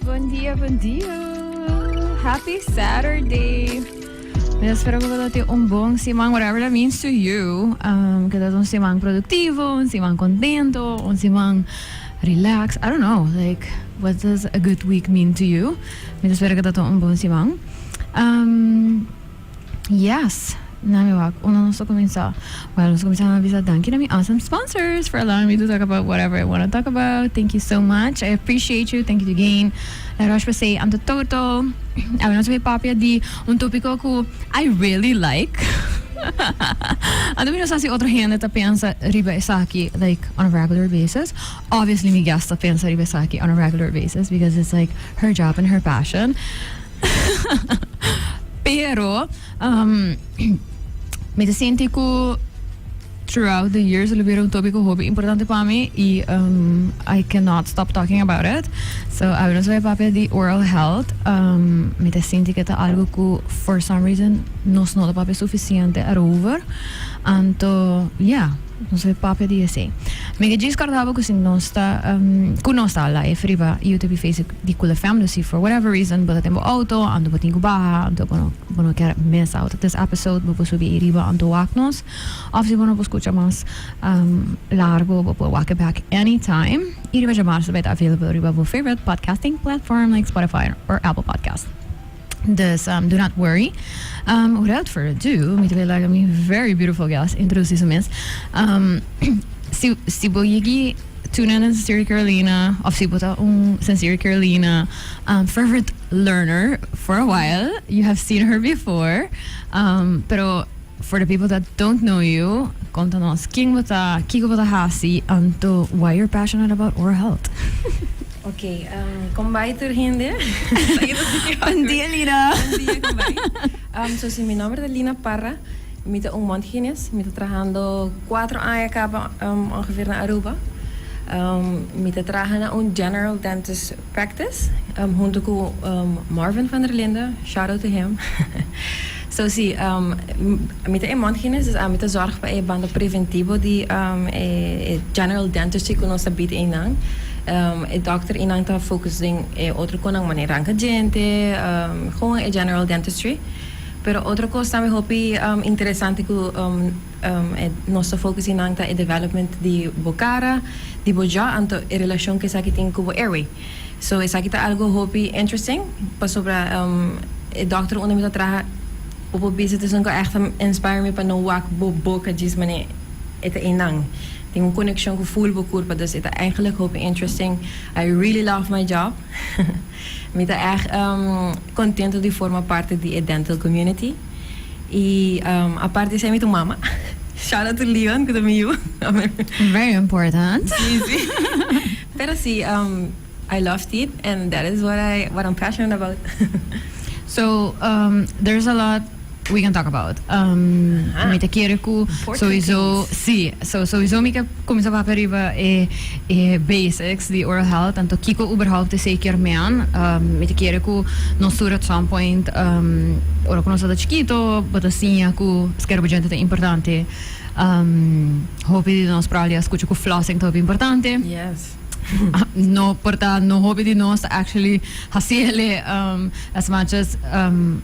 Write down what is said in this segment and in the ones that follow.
Bon dia, bon dia. Happy Saturday. Mi ta spera cu bo ta tin un bon siman, whatever that means to you. Um, que dat un siman productivo, un siman contento, un siman relax. I don't know, like, what does a good week mean to you? Mi ta spera que dat un bon siman. Um, Yes! Na mi wak unda nos ta kuminsá? Well, nos ta kuminsá na bisa danki na mi awesome sponsors for allowing me to talk about whatever I wanna talk about. Thank you so much. I appreciate you. Thank you to Gain, La Roche Posay, Anto Toto. Awe nos a bay papia di un tópiko ku I really like. Anto mi no sa si otro hende ta pensa riba esaki like on a regular basis. Obviously mi guest ta pensa riba esaki on a regular basis because it's like her job and her passion. Pero, um, me te siente cu throughout the years lo vieron tobi cu hobi importante para mí y um, I cannot stop talking about it. So, a ver, soy papia di oral health. Um, me te siente que ta algo cu for some reason nos no ta papia suficiente erover. Anto, yeah. Nos e papia di esei. Mi ke djis kordaba ku si nos ta ku nos ta ala ef riba i yu ta bifei si di kula fèm lo si for whatever reason bo ta den bo outo anto bo tin ku baha anto bo no bo no ker mes outo tes episode bo por subi ei riba anto wak nos of si bo no por skucha mas largo bo por wak e bek anytime i riba dje marzo bo e ta available riba bo favorite podcasting platform like Spotify or Apple podcast. Dus um do not worry. Um without further ado, mi ta bai laga mi very beautiful guest introduci su mes. Um si si bo yigi tuna na Sincere Carolina of si bo ta un Sincere Carolina um fervent learner for a while, you have seen her before. Um pero For the people that don't know you, konta nos kin bo ta, kiko bo ta hasi, anto why you're passionate about oral health? Ok, kon bai tur hende? Un dia Lina. Un dia kon bai. So si mi nomber ta Lina Parra, mi ta un Montaigenes, mi ta trahando kuater aña kaba ongeveer na Aruba. Mi ta traha na un general dentist. Practice hunto cu Marvin van der Linde shout out to him so si mi ta e mondhygienist dus ami ta zorg pa e banda preventivo di e general dentistry cu nos ta bid eynan e dokter eynan ta focus den e otro conan manera ranca djente gewoon e general dentistry pero otro cos tambe hopi interesante cu Nos ta focus di nan ta e development di bo cara, di bo jaw anto e relacion cu esaki tin cu bo airway. So esaki ta algo hopi interesting pasobra e doctor unda mi ta traha poco bisa ta esun cu a echt a inspire mi pa no wak bo boca djis mane e ta einan. Tin un conexion cu full bo curpa dus e ta eigenlijk hopi interesting. I really love my job. Mi ta echt contento di forma parte di e dental community. Y apart di esey mi ta un mama. Shout out to Leon cu ta mi yu. Very important. Sí, sí. Pero sí, um, I love teeth and that is what I what I'm passionate about. so um, there's a lot we can talk about. Um, mi ta kere cu sowieso, sí, so sowieso mi ke comienza papia riba e E basics di oral health, tanto kiko uberhaupt esei kier mean. Mi ta kere ku nos tur at some point, ora ku nos tabata chikito, bo ta siña ku skera bo djente ta importante. Hopi di nos probabli a skucha ku flossing ta hopi importante. No por ta no hopi di nos ta actually hasi el'e as much as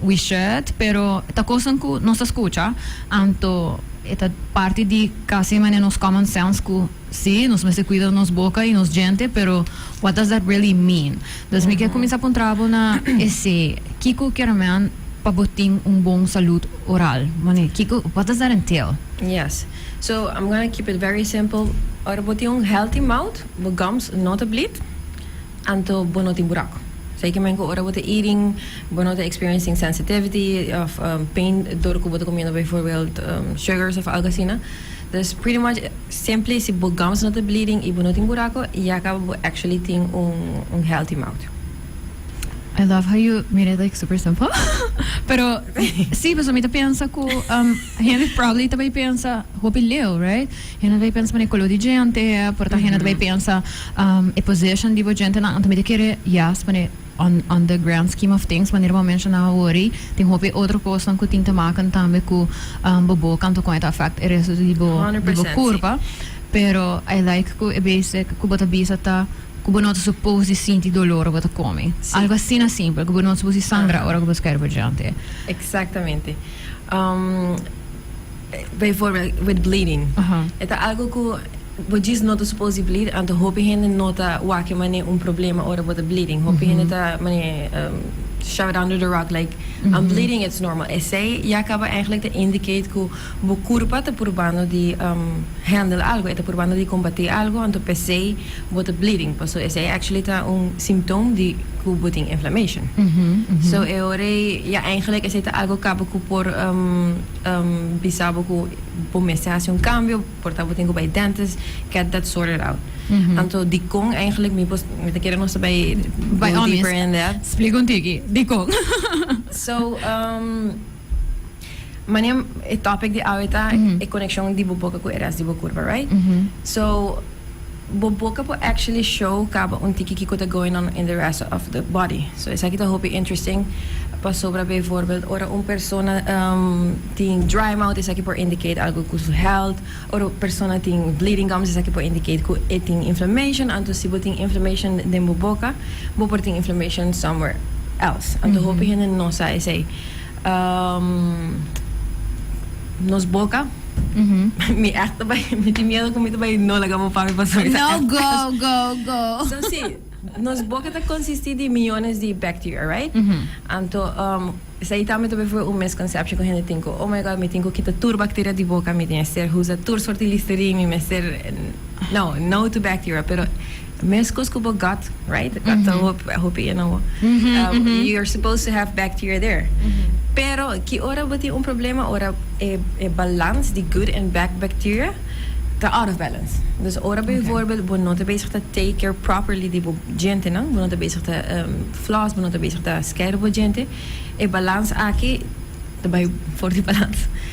we should, pero ta kosan ku nos ta skucha. Anto e ta parti di kasi mane nos common sense ku. Sí, nos mester cuida nos boca y nos djente, pero what does that really mean? Dus mi kier cuminsa puntra bo na esé, kico kier men pa bo tin un bon salud oral? Mane, kico, what does that entail? Yes. So, I'm gonna keep it very simple. Ora bo tin un healthy mouth, bo gums no ta bleed, anto bo no tin buraco. So, e ke men cu ora bo ta eating, bo no ta experiencing sensitivity of pain dor cu bo ta comiendo bijvoorbeeld sugars of algo asina. Dus pretty much simpli si bo gums no ta bleeding i bo no tin buraco yaka bo actually tin un healthy mouth. I love how you made it like super simple pero si pasobra mi ta pensa cu hende probably ta bay pensa hopi leu right hende ta bay pensa pana e color di djente por ta hende ta bay pensa e position di bo djentenan anto mi ta kere yas pana e. on on the grand scheme of things manera bo a menshoná awori tin hopi otro kosnan ku tin te makan tambe ku bobo kantu kon e ta afekt e restu di bo di bo kurpa pero I like ku e bese ku bo ta bisa ta ku bo no ta supos di sinti dolor ora bo ta komi algu asina simpel ku bo no ta supos di sangra ora ku bo ta kere pa dianti. Exactamente. Bijvoorbeeld with bleeding. E ta algo ku bo djis no ta supos di bleed, anto hopi hende no ta wak mane un problema ora bo ta bleeding. Hopi hende ta mane shout under the rug like I'm bleeding it's normal. Esei ya kaba eigenlijk ta indicate ku bo kurpa ta purbando di handle algo, e ta purbando di kombate algo, anto p'esei Bo ta bleeding paso esei actually ta un symptoom di cu bo tin inflammation. So e ora ei ya eigenlijk esei ta algo caba cu por bisa bo cu bo mester haci un cambio, por ta bo tin cu bay dentist, get that sorted out. Anto dicon eigenlijk mi por, mi ta kere nos ta bay go deeper in that. Splica un tiki, dicon? So mane e topic di awe ta e conexion di bo boca cu e rest di bo curpa right? So. Bo boca por actually show caba un tiki kico ta going on in the rest of the body. So esaki ta hopi interesting pasobra bijvoorbeeld ora un persona tin dry mouth esaki por indicate algo cu su health, ora un persona tin bleeding gums esaki por indicate cu e tin inflammation, anto si bo tin inflammation den bo boca bo por tin inflammation somewhere else. Anto hopi hende no sa esey. Nos boca. Mi echt ta bay, mi tin miedo cu mi ta bay no laga bo papi pasobra ta echt. No, go, go, go. So si, nos boca ta consisti di millones di bacteria, right? Anto, esei tambe ta bay fuer un misconception cu hende tin cu, oh my God, mi tin cu kita tur bacteria di boca, mi mester usa tur soorti Listerine, mi mester, no, no to bacteria, pero. Meskos ku bo gut, right? Gut ta hopi e na bo. You are supposed to have bacteria there. Pero ki ora bo tin un problema ora e balans di good and bad bacteria ta out of balance. Dus ora bijvoorbeeld bo no ta bezig ta take care properly di bo djentenan, bo no ta bezig ta floss, bo no ta bezig ta skei bo djente, e balans aki ta bai for di balans.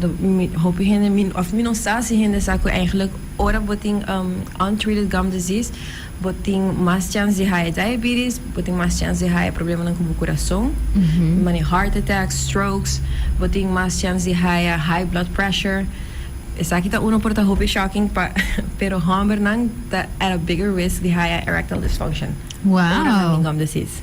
Hopi hende, of mi no sa si hende sa cu eigenlijk ora bo tin untreated gum disease bo tin mas chance di haya diabetes, bo tin mas chance di haya problemanan cu bo curason, mane heart attacks, strokes, bo tin mas chance di haya high blood pressure. Esaki ta uno por ta hopi shocking pa pero hombernan ta at a bigger risk di haya erectile dysfunction ora nan tin gum disease.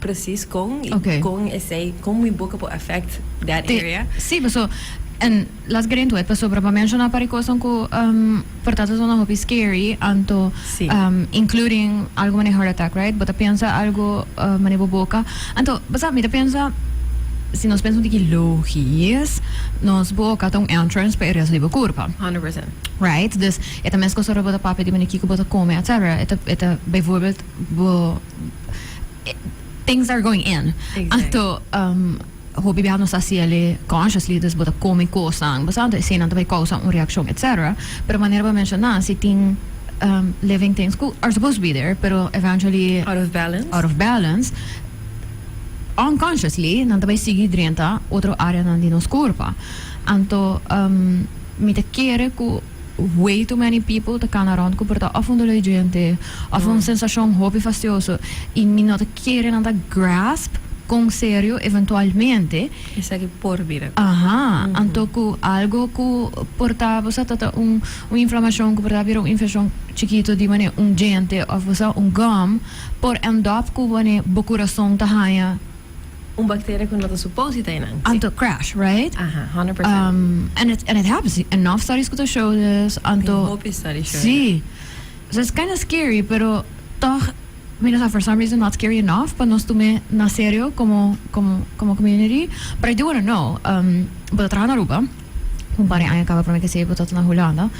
precies con y okay. con esei con mi boca por affect that Te, area. Sí, pues so en las gerento het pasobra pa menciona para cosas cu um, por tanto son hopi scary anto sí. um, including algo mane heart attack, right? Bota piensa algo uh, mane boca. Anto, basa, mira piensa si nos pensamos que logies, nos boca tem um entrance para areas livre curva. 100%. Right? Dus, eta mes cosa robota papia de manier que bota come, etc. Eta, eta, bijvoorbeeld, bo things are going in. Anto, um, hopi bia nos ta haci ali consciously, dus bo ta come cosnan, bo sa, anto esenan ta bay causa un reaccion, etc. Pero manera bo a menciona, si tin, um, living things cu are supposed to be there, pero eventually, Out of balance. out of balance, unconsciously, nan ta bay sigui drenta otro areanan di nos corpa. Anto, um, mi ta kere cu. Way too many people ta cana rond cu por ta of un doloi diente of un sensacion hopi fastioso y mi no ta kere nan ta grasp con serio eventualmente esaki por bira Aha, anto cu algo cu por ta bo sa ta ta un un inflamacion cu por ta bira un infeccion chikito di mane un diente of bo sa un gum por end up cu mane bo curason ta haya Un bacteria cu no ta supose ta enan. An ta crash, right? Aha, honderd percent. Um, and it, and it happens. Enof studies cu ta show this. Anto. Tin hopi studies show. Sí. So it's kinda scary, pero toch, mi no sa, for some reason not scary enof pa nos tume na serio como, como, como community. But I do wanna know, um, bo ta traha na Aruba, cu un par di aña caba prome cu esey bo ta ta na Hulanda,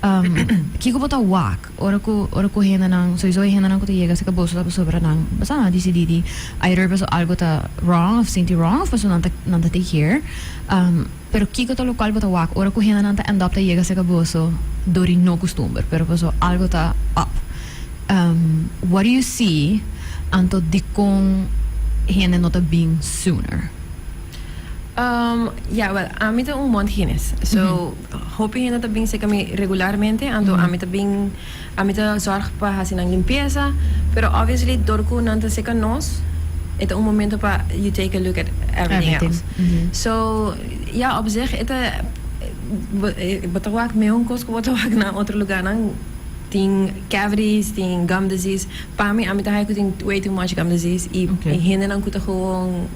um, kico bo ta wak? Ora cu ora cu hendenan, soiso e hendenan cu ta yega cerca boso ta pasobra pasobra nan pasobra nan dicidi di either pasobra algo ta wrong of sinti wrong of pasobra nan ta nan ta take care am pero kico ta locual bo ta wak ora cu hendenan ta end up ta yega cerca boso door y no custumber pero pasobra algo ta up am what do you see anto dicon hende no ta bin sooner? Um, ya, wel, ami ta un mont hines, so. Hopi hende ta bin seka mi regularmente, anto ami ta bin, ami ta zòrg pa hasi nan limpiesa, pero obviously dor ku nan ta seka nos, e ta un momento pa you take a look at everything else. So, ya, op zich e ta, bo ta wak meun kos ku bo ta wak na otro lugánan, tin cavities, tin gum disease. Pa mi, ami ta haña ku tin way too much gum disease i hendenan ku ta gewoon.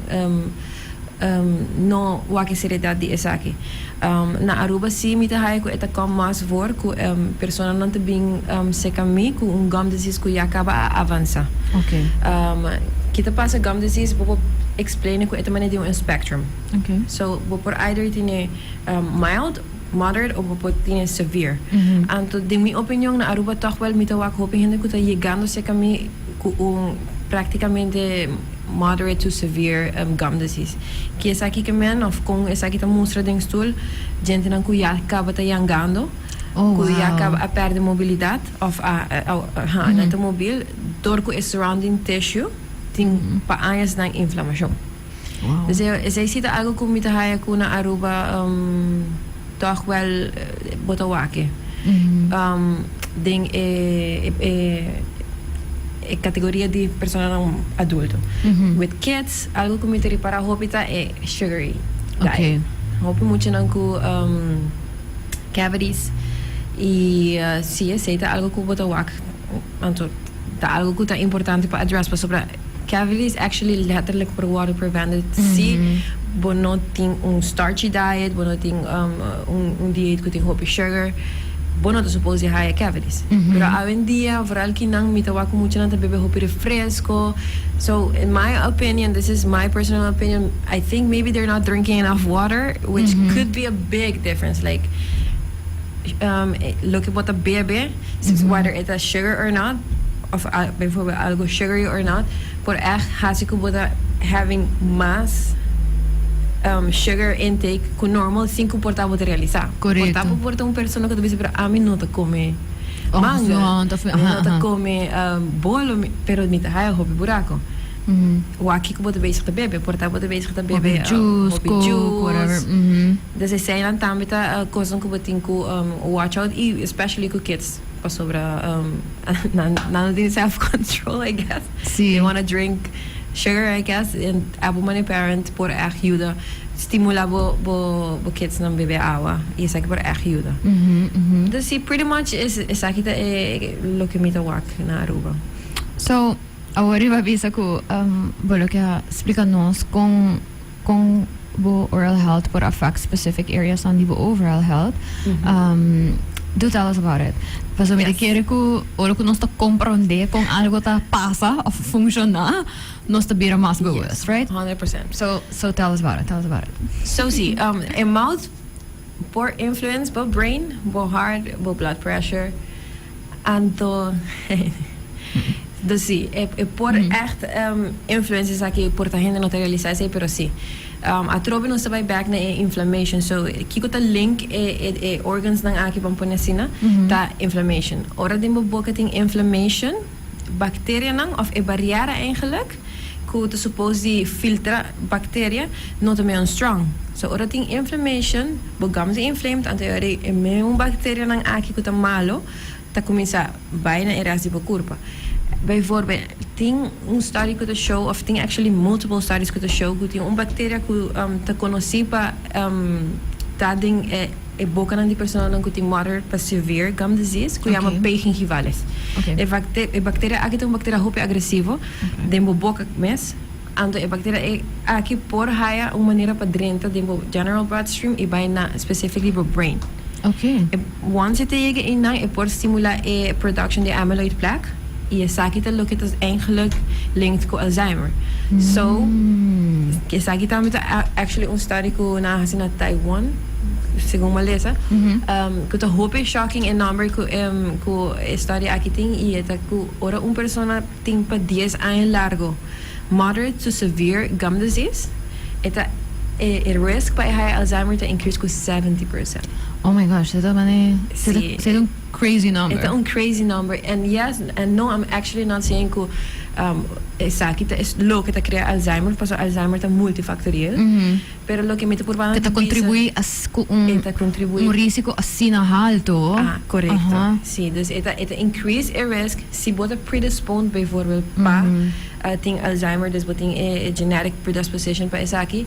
No wak seriedad di esaki. Na Aruba si mi ta haya cu e ta com mas voor cu personanan ta bin seca mi cu un gum disease cu ya caba a avansa. Ki ta pasa gum disease bo por explaine cu e ta manera di un spectrum. So bo por either tine mild, moderate o bo por tine severe. Anto den mi opinion na Aruba toch wel mi ta wak hopi hende cu ta yegando seca mi cu un practicamente. Moderate to severe gum disease. Ki esaki ke men of kon esaki ta mustra den stul djentenan ku ya kaba ta yangando, ku ya kaba a pèrdè mobilidat of a a nan ta mobil dor ku e surrounding tissue tin pa añasnan inflamashon. Esei si ta algu ku mi ta haya ku na Aruba. Tòg wèl bo ta wak den e kategoria di personanan adulto. With kids, algu ku mi ta ripará hopi ta e sugary diet. Hopi muchanan ku cavities i si esei ta algu ku bo ta wak anto ta algu ku ta importante pa address pasobra. Cavities actually letterlijk por worde prevented si bo no tin un starchy diet, bo no tin un dieet cu tin hopi sugar, bo no ta supposed di haya cavities. Pero awendia, vooral kinan, mi ta wak cu muchanan ta bebe hopi refresco. So, in my opinion, this is my personal opinion, I think maybe they're not drinking enough water, which could be a big difference. Like, loke bo ta bebe. Whether it ta sugar or not, of bijvoorbeeld algo sugary or not, por ègt haci cu bo ta having mas sugar intake cu normal sin cu por ta bo ta realisa. Por ta bo por ta un persona cu ta bisa, pero ami no ta come manga, mi no ta come bolo, pero mi ta haja hopi buraco. Wak cu bo ta bezig ta bebe, por ta bo ta bezig ta bebe hopi juice. Des eseinan tambe ta cosnan cu bo tin cu watch out y especially cu kids pasobra nan no tin self control I guess they wanna drink sugar I guess y abo manera parent por echt yuda stimula bo bo kidsnan bebe awa y esaki por echt yuda. Entonces si pretty much esaki ta e loke mi ta wak na Aruba. So awor riba bisa cu bo lo ke a splica nos con Con bo oral health por affect specific areasnan di bo overall health? Do tell us about it. Paso mi ta kere cu ora cu nos ta comprende con algo ta pasa of funciona, nos ta bira mas bewust, right? Honderd procent. So, so tell us about it, tell us about it. So si, e mouth. Por influence bo brain, bo hart, bo blood pressure. Anto dus si, e por echt influence esaki por ta hende no ta realisa esei pero si. Atrobe nos ta bai back na e inflammation so kiko ta link e organsnan aki pan pone asina ta inflammation. Ora den bo boca tin inflammation. bacterianan of e bariera eigenlik cu ta suppose di filtra bacteria no ta meon strong. So ora tin inflammation, bo gums a inflamed anto e e meon bacterianan aki cu ta malo ta cuminsa bay na e rest di bo curpa. Bijvoorbeeld tin un study cu ta show of tin actually multiple studies cu ta show cu tin un bacteria cu ta conoci pa ta den e E bokanan di personanan ku tin moderate pa severe gum disease ku yama P. gingivales. E bakteria aki ta un bakteria hopi agresivo den bo boka mes, anto e bakteria aki por haya un manera pa drenta den bo general bloodstream i bai na specifically bo brain. Once e ta yega einan e por stimula e production di amyloid plaque. y esaki ta loke ta eigenlijk linked cu Alzheimer. So, esaki tambe ta actually un study cu nan hasi na Taiwan, segun m'a lesa, cu ta hopi shocking e number cu cu e study aki tin y e ta cu ora un persona tin pa dies aña largo moderate to severe gum disease, e ta e risk pa e haya Alzheimer ta increase cu seventy percent. Oh my gosh, de todas maneras, si ta, si ta un. Crazy number. E ta un crazy number and yes and no I'm actually not saying cu um esaki ta es loke ta crea Alzheimer paso Alzheimer ta multifactoriel pero loke mi ta purba Ta contribui as cu un E ta contribui un risico asina halto. Ah correcto Aha. si dus e ta e ta increase e risk si bo ta predisponed bijvoorbeeld pa tin Alzheimer dus bo tin e e genetic predisposition pa esaki.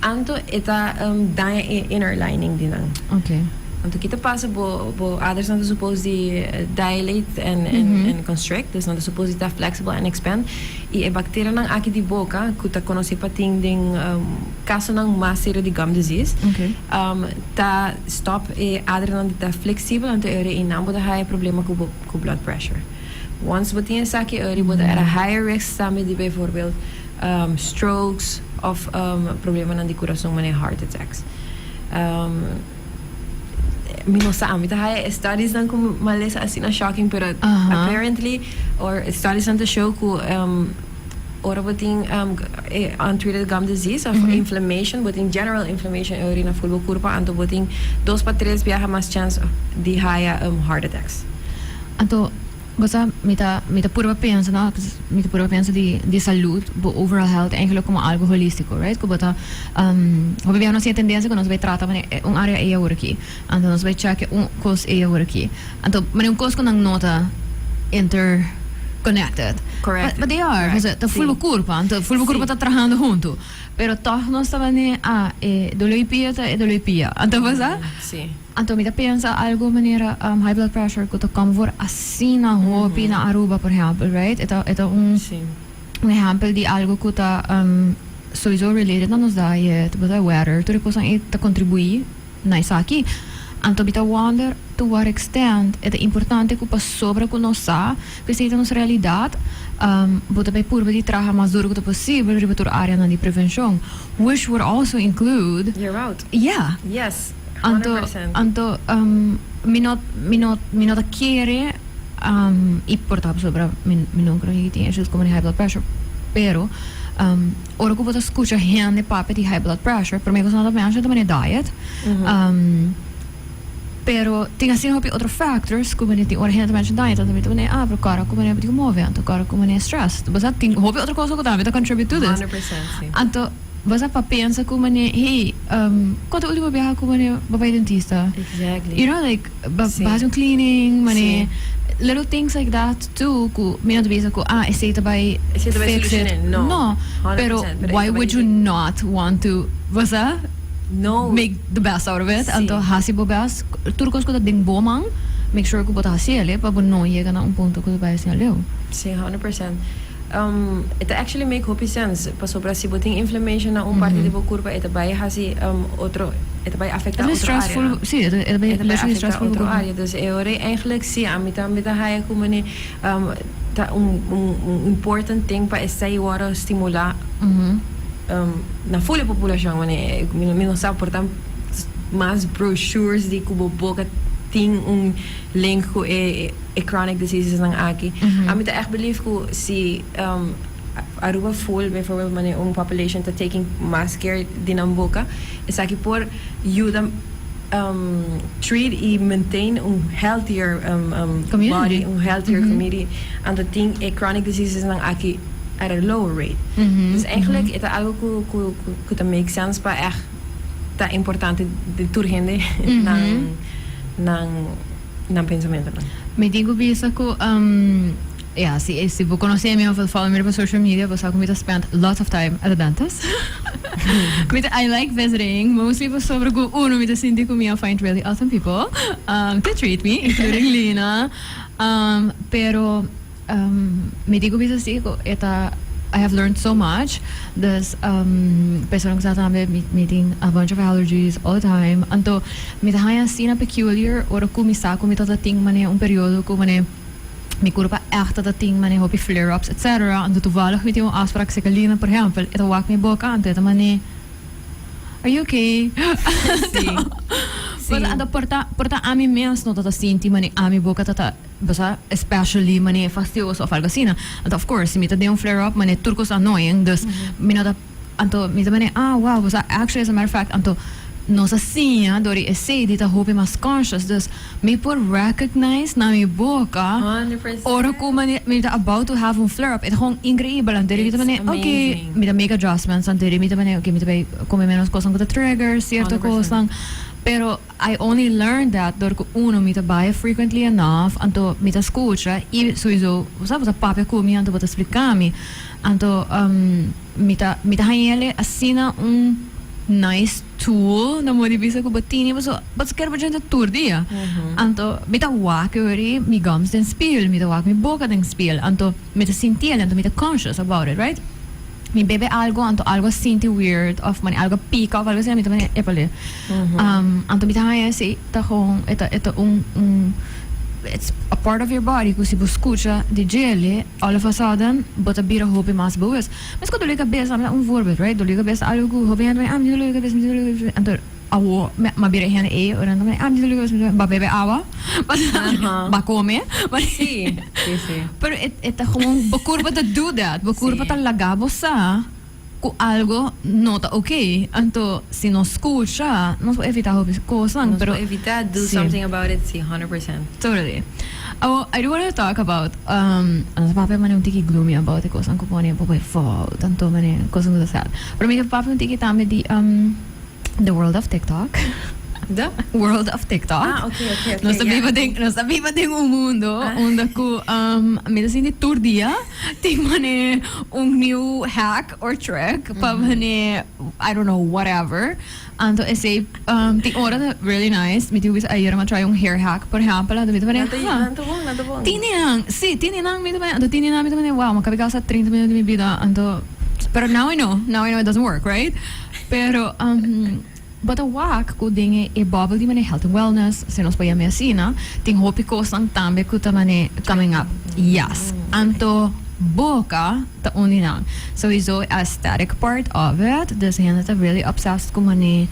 Anto e ta daña e inner lining di nan. Anto ki ta pasa bo bo aders nan ta supos di dilate and constrict dus nan ta supos di ta flexible and expand y e bacterianan aki di boca cu ta conoce pa tin den casonan mas serio di gum disease ta stop e adrenan di ta flexible anto e ora y nan bo ta haya problema cu bo cu blood pressure once bo tin esaki e ora y bo ta at a higher risk tambe di bijvoorbeeld strokes of problemanan di kurason manera heart attacks mi no sa mi ta haya e studies nan ku malesa asina shocking pero apparently or studies nan ta show ku ora bo tin e untreated gum disease of inflammation bo tin general inflammation e orina full bo kurpa anto bo tin dos pa tres biaha mas chance di haya heart attacks. Bo sa, mi ta mi ta purba pensa no mi ta purba pensa di di salud, bo overall health eigenlijk como algo holístico, right? Cu bo ta um hopi bia nos tin e tendencia cu nos bai trata mane e un area ey awooraki anto nos bai cheque un cos ey awooraki anto mane un cos cu nan no ta inter connected Correct, but they are correct, pasobra ta full bo sí. curpa anto full bo curpa Sí. ta trahando hunto pero toch nos ta mane ah e dolo y pia ta e dolo y pia anto bo sa. Sí. Anto mi ta pensa algo manera high blood pressure cu ta come for asina hopi na Aruba por ehempel right e ta e ta un un ehempel di algo cu ta soiso related na nos day e ta basado e weather tur e cosnan ey ta contribui na esaki anto mi ta wonder to what extent e ta importante cu pasobra cu nos sa cu esey ta nos realidad bo ta bay purba di traha mas duro cu ta posibel riba tur areanan di prevencion which would also include your route yeah. Anto, anto, um, mi no, mi no, mi no ta kere um, i por ta pasobra mi, mi no creo que tiene issues como de high blood pressure. Pero, um, ora que vos escucha gente papia di high blood pressure, primer cosa no ta mensa ta meneer diet. Um, pero tin así hopi otro factors como de tin ora gente mensa diet, ta meneer meneer ah, pero cara como meneer beti move, anto cara como meneer stress. Vos sa tin hopi otro cosa que tambe ta contribute to this. 100% sí. Anto Bo sa pa pensa cu mane, hey, um, con ta ultimo biaha cu mane bo bay dentista? Exactly. You know, like, bo Sí. haci un cleaning, mane, Sí. little things like that too, cu mi no ta bisa cu, ah, esey ta bay Esey ta bay fix it. solucion'é. No. No, 100%, pero pero why ey ta would bay you di- not want to, bo sa, No. make the best out of it? Sí. Anto haci bo best, tur cos cu ta den bo man, make sure cu bo ta haci el'e, pa bo no yega na un punto cu ta bay haci aleu. Sí, 100%. Um e ta actually make hopi sense pasobra si bo tin inflammation na un parti di bo kurpa e ta bai hasi um otro e ta bai afekta otro área nan. E ta bai stressful, sí, e ta bai afekta otro área nan. E ta bai afekta otro área nan. E ora e eindelijk sí ami tambe ta haya ku manera um ta un un important ting pa esei e wòrdu stimulá um na ful e populashon manera mi no sa por ta mas brochures di ku bo boka tin un link ku e. e chronic diseases nan aki. Ami ta echt believe cu si um, Aruba full, bijvoorbeeld wanneer un population ta taking mas care di nan boca, esaki por yuda um, treat y maintain un healthier um, um, Community. body, un healthier community. Anto tin e chronic diseases nan aki at a low rate. Dus eigenlijk e ta algo cu, cu, cu, cu ta make sense pa echt ta importante di tur hende nan, nan nan pensamentonan. Mi tin cu bisa cu ya si e si bo conoce mi of el follow mi riba social media bo sa cu mi ta spend lots of time at the dentist. mi ta I like visiting mostly pasobra cu uno mi ta sinti cu mi a find really awesome people to treat me including Lina pero. Mi dico bisa si cu e ta I have learned so much dus persona cu sa tambe mi tin a bunch of allergies all the time anto mi ta haya asina peculiar ora cu mi sa cu mi ta ta tin mane un periodo cu mane mi curp a echt ta ta tin mane hopi flare ups etc anto toevallig mi tin un aspra cu seca lina por ehempel e ta wak mi boca anto e ta mane are you okay anto porta ami mes no ta ta sinti mane ami boca ta ta Basa especially mane e fastioso of algo asina. Anto of course si mi ta den un flare up mane tur cos annoying dus mi no ta anto mi ta mane ah wow basa actually as a matter of fact anto nos a siña dor di esey di ta hopi mas conscious dus mi por recognize na mi boca ora cu mane mi ta about to have un flare up e ta gewoon increibel anterior mi ta mane oke mi ta make adjustments anterior mi ta mane oke mi ta bay come menos cosnan cu ta trigger cierto cosnan pero. I only learned that dor cu uno mi ta bay frequently enough, anto mi ta scucha y souiso bo sa bo ta papia cu mi anto bo ta splica mi, anto umm mi ta mi ta hañele asina un nice tool na modo di bisa cu bo tini paso paso ker bo djente tur dia, anto mi ta wak yori mi gums den spiel, mi ta wak mi boca den spiel, anto mi ta sintiel, anto mi ta conscious about it right. Mi bebe algo anto algo sinti weird of mane algo pica of algo asina mi ta mane epa le um anto mi ta haña esi ta gewoon e ta e ta un un it's a part of your body cu si bo scucha di djele all of a sudden bo ta bira hopi mas boos. Mes cu doli cabeza mi ta un voorbeeld right doli cabeza ta algo cu hopi hende ta mane ah mi ta doli cabeza mi ta doli cabeza anto Awor mi a bira e hende ey ora nan ta mira ba bebe awa ba come pero e ta gewoon bo curpo ta do that bo curpo ta laga bo sa cu algo no ta ok anto si nos scucha nos por evita hopi cosnan pero si totally awor I do wanna talk about nos papia mane un tiki gloomy about e cosnan cu pone bobo e fout anto mane cosnan cu ta sad pero mi ta papia un tiki tambe di. The world of TikTok. The? World of TikTok. Ah, ok, ok, ok. Nos ta biba den, nos ta biba den un mundo ah. unda ku um, mi ta sinti tur dia tin mane un new hack or trick mm. pa mane I don't know whatever. Anto ese um, tin ora ta really nice. Mi tubis ayer ma try un hair hack, por ejemplo, anto mi ta mane. Nanto bon, nanto bon. Tini nan, si, tini nan mi ta mane, anto tini nan mi ta mane, wow, ma kabi gasta 30 minutos de mi vida, anto Pero now I know, now I know it doesn't work, right? Pero bo ta wak cu den e bubble di manera health and wellness, si nos por yam'e asina, tin hopi cosnan tambe cu ta manera coming up. Yes. Anto boca ta un di nan. Sowiso e aesthetic part of it. Dus hende ta really obsessed cu manera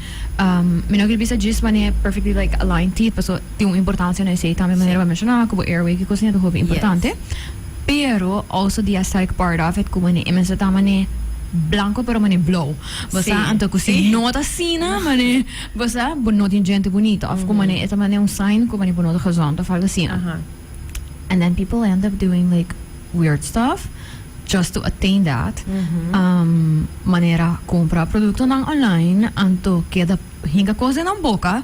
mi no quier bisa djis manera perfectly like aligned teeth pasobra tin un importancia na esey tambe manera bo a menciona cu bo airway kico siña ta hopi importante. Pero also di a sterk part of it cu mane e mester ta mane blanco pero mane blow. Bo sa? Sí, Anto cu si sí. no ta asina mane bo sa bo no tin djente bunita of cu mane e ta mane un sign cu mane bo no ta gezond of algo asina. Aha. And then people end up doing like weird stuff just to attain that. Um manera compra productonan online anto keda hinca cos den nan boca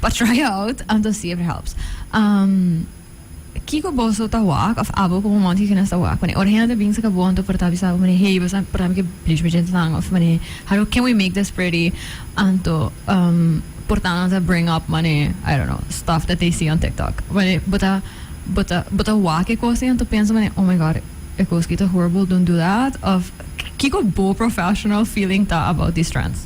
pa try out anto see if it helps. Um. Kiko boso ta wak of abo ku momento kiko nos ta wak pone ora hende ta binsa ka bo anto por ta bisa bo pone hey bo sa por hèmber ke bleach magenta nan of pone how can we make this pretty anto por ta ansa bring up mane I don't know stuff that they see on tiktok pone bo ta bo ta bo ta wak e kos ei anto pensa pone oh my god e kos ki ta horrible don't do that of kiko bo professional feeling ta about these trends.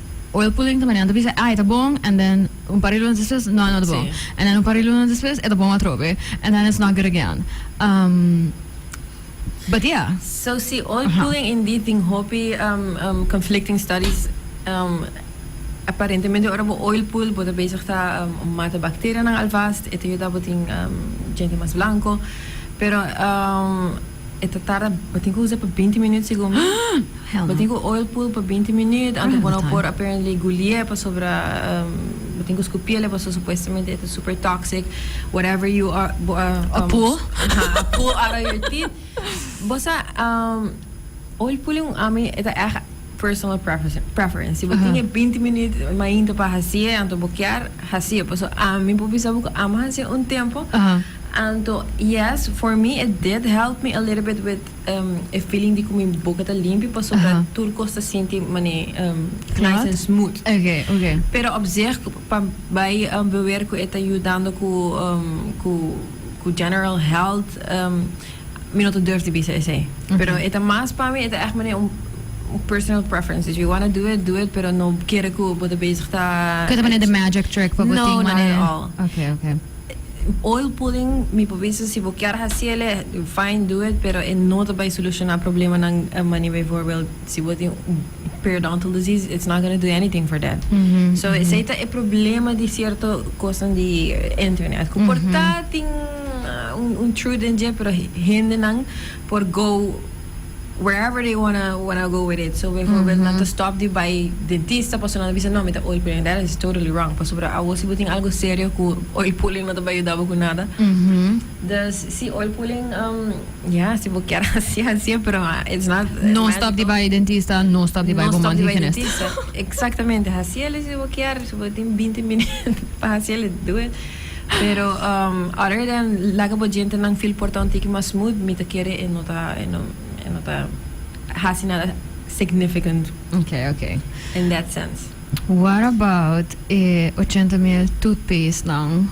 o el pulenta manera ta bisa ai ta bon and then un par di lunas despues no no ta bon and then un par di lunas despues e ta bon atrobe and then it's not good again um but yeah. So si oil pulling indeed tin hopi conflicting studies um aparentemente ora bo oil pull bo ta bezig ta mata bacterianan alvast e ta yuda bo tin djente mas blanco pero um. E ta tarda, bo tin cu usa pa binti minuut segun mi. Hell no. Bo tin cu oil pull pa binti minuut antes bo no por apparently gulie pasobra bo tin cu scupiele pasobra supuestamente e ta super toxic whatever you are pull out of your teeth. Bo sa oil pulling ami e ta echt. personal preference. Si bo tin e binti minuut mainta pa hasi'e, anto bo kier hasi'e. Paso ami por bisa bo ku ami a hasi'e un tempu, anto yes, for me it did help me a little bit with e feeling di ku mi boka ta limpi, pasobra tur kos ta sinti mane nice and smooth. Pero op zich, pa bai beweer ku e ta yudando ku general health, Mi no ta durf di bisa esei. Pero e ta mas pa mi, e ta echt manera un un personal preference. If you wanna do it, do it, pero no kere ku bo ta bezig ta Ku e ta manera di magic trick pa bo No, tin not at all. Okay, okay. Oil pulling mi por bisa si bo kier hasi ele, fine, do it, pero e no ta bai solushona problemanan manera bijvoorbeeld si bo tin un. periodontal disease it's not gonna do anything for that so esey ta e problema di cierto cosnan di internet cu por ta tin un truth den dje pero hendenan por go wherever they wanna go with it so bijvoorbeeld nan ta stop di bay dentista pasobra nan ta bisa no mi ta oil pulling and that is totally wrong pasobra awo si bo tin algo serio cu oil pulling no ta bay yuda bo cu nada dus si oil pulling. Ya, si bo kier hasi, hasié, pero it's not médico. No stop di bai dentista, no stop di bai bo mandi hygienist. No stop di bai dentista. Exactamente, hasiéle si bo kier, si bo tin binti minüt pa hasiéle, do it. Pero um other than laga bo djentenan feel porta un tiki mas smooth, mi ta kere e no ta, e no, e no ta hasi nada significant. Okay, okay. In that sense. What about e ochenta mil toothpaste nan?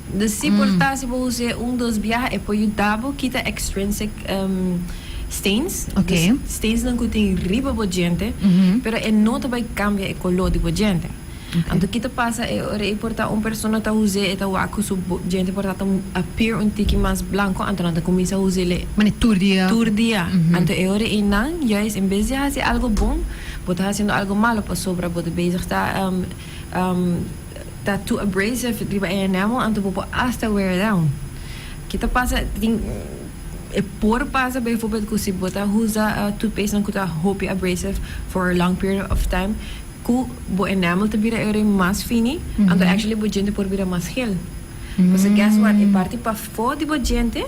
De si por ta si bo usa e un dos biaha e por yuda bo kita extrinsic stains, dus stains nan ku tin riba bo diente, pero e no ta bai kambia e koló di bo diente. Anto ki ta pasa e ora ei por ta un persona ta usa e ta wak ku su diente por ta ta appear un tiki mas blanko anto nan ta kuminsa usa le tur dia tur dia anto e ora ei nan juis en bes di a hasi algo bon bo ta hasiendo algo malo pasobra bo ta bezig ta. Ta too abrasive riba e enamel anto bo por hasta wear down. Ke ta pasa tin e por pasa bijvoorbeeld ku si bo ta usa toothpastenan ku ta hopi abrasive for a long period of time ku bo enamel ta bira every mas fini anto actually bo diente por bira mas geel. Pasobra guess what e parti pafó di bo diente.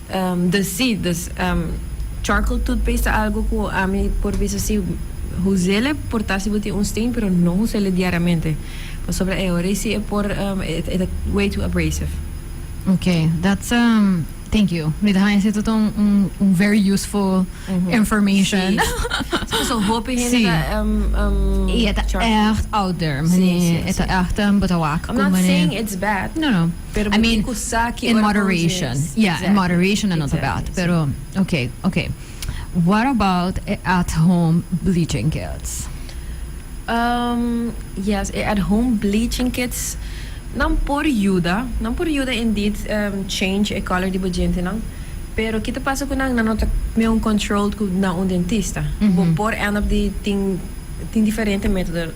Dal si, dus charcoal toothpaste ta algu ku ami por bisa si José le por ta si bo tin un stain pero no José le diariamente pasobra e ora esi e por e ta way too abrasive. Ok that's thank you mi ta haña si esta ta un very useful information. Si paso un hopi hende ta. I e ta echt out there mane e ta echt botawak. I'm not saying it's bad. Pero bo tin cu sa ki ora bo use. I mean, in moderation. Yeah, exactly. in moderation anota bad. Exactly, Pero, si. ok, ok. What about e at home bleaching kits? Um, yes, e at home bleaching kits nan por yuda, nan por yuda indeed um, change e color di bo dientenan. Pero ki ta pasa cu nan? Nan no ta mi un controlled cu na un dentista. Bo por end up di tin tin diferente metodo.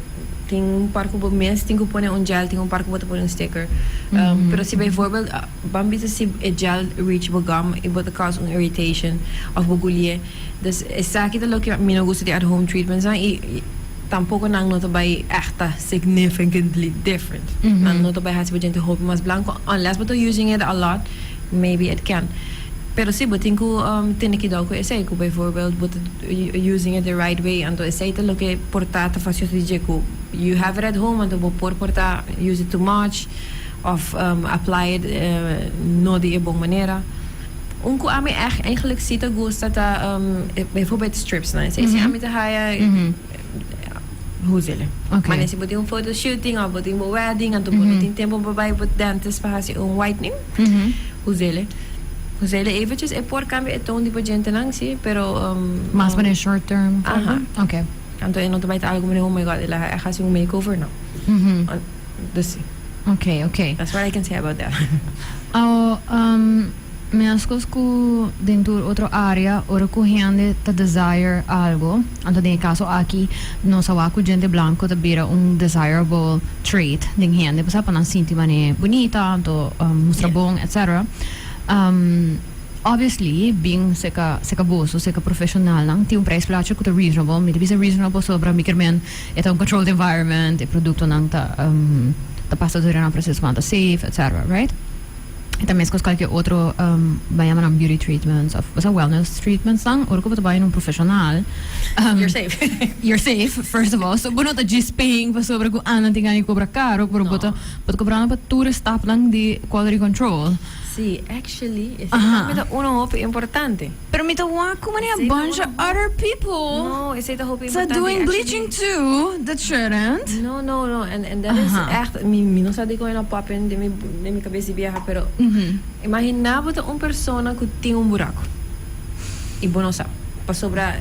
Tin un par ku bo mes tin ku pone un gel, tin un par ku bo ta pone un sticker. Um, pero si bijvoorbeeld ah, ban bisa si e gel reach bo gum i bo ta cause un irritation of bo guli'e. Dus esaki ta loke mi no gusta di at home treatments nan i i tampoco nan no ta bai echta significantly different. Nan no ta bai hasi bo djente hopi mas blanco unless bo ta using it a lot, maybe it can. Pero si, bo tin ku um tene kidou ku esei, ku bijvoorbeeld bo ta using it the right way anto esey ta loke por ta ta facios di dje cu you have it at home anto bo por por ta use it too much of apply it no di e bon manera un cu ami echt eigenlijk si ta gusta ta bijvoorbeeld strips nan esey si ami ta haya usele mane si bo tin un photo shooting of bo tin bo wedding anto bo no tin tempo pa bay dentist pa haci un whitening usele. José le evitjes e por cambia e toon di bo djentenan, sí, pero um. Mas pa den short term? Aha. Ok. Anto e no ta bai ta algo como den, oh my God, e laga echt haci un makeover, no. An, dus sí. Ok, ok. That's what I can say about that. Awo, um, mescos cu den tur otro area, ora cu hende ta desire algo, Anto den e kaso aki nos a wak ku djente blanko ta bira un desirable trait den hende pasobra pa nan sinti manera bunita anto mustra bon etc. Obviously bin seka seka boso seka profesionalnan tin un prijs placha ku ta reasonable mi ta bisa reasonable pasobra mikermen e ta un controlled environment e produktonan ta ta pasa dor di nan prosesonan ta safe etc right. y ta mescos cualkier otro bay a yama nan beauty treatments of bosa wellness treatments nan ora cu bo ta bay na un profesional you're safe you're safe first of all so bo no ta djispen pasobra cu andan tin gana di cobra caro pero bo ta bo ta cobrando pa tur e stapnan di quality control si actually ese tambe ta uno hopi importante. Pero mi ta wak cu mane a bunch of other people ta doing bleaching too, the churrent. No, no, no, en, en dat is echt, mi, mi no sa dikon e na poppin den mi, den mi cabes di bieha, pero imagina bo ta un persona cu tin un buraco y bo no sa, pasobra.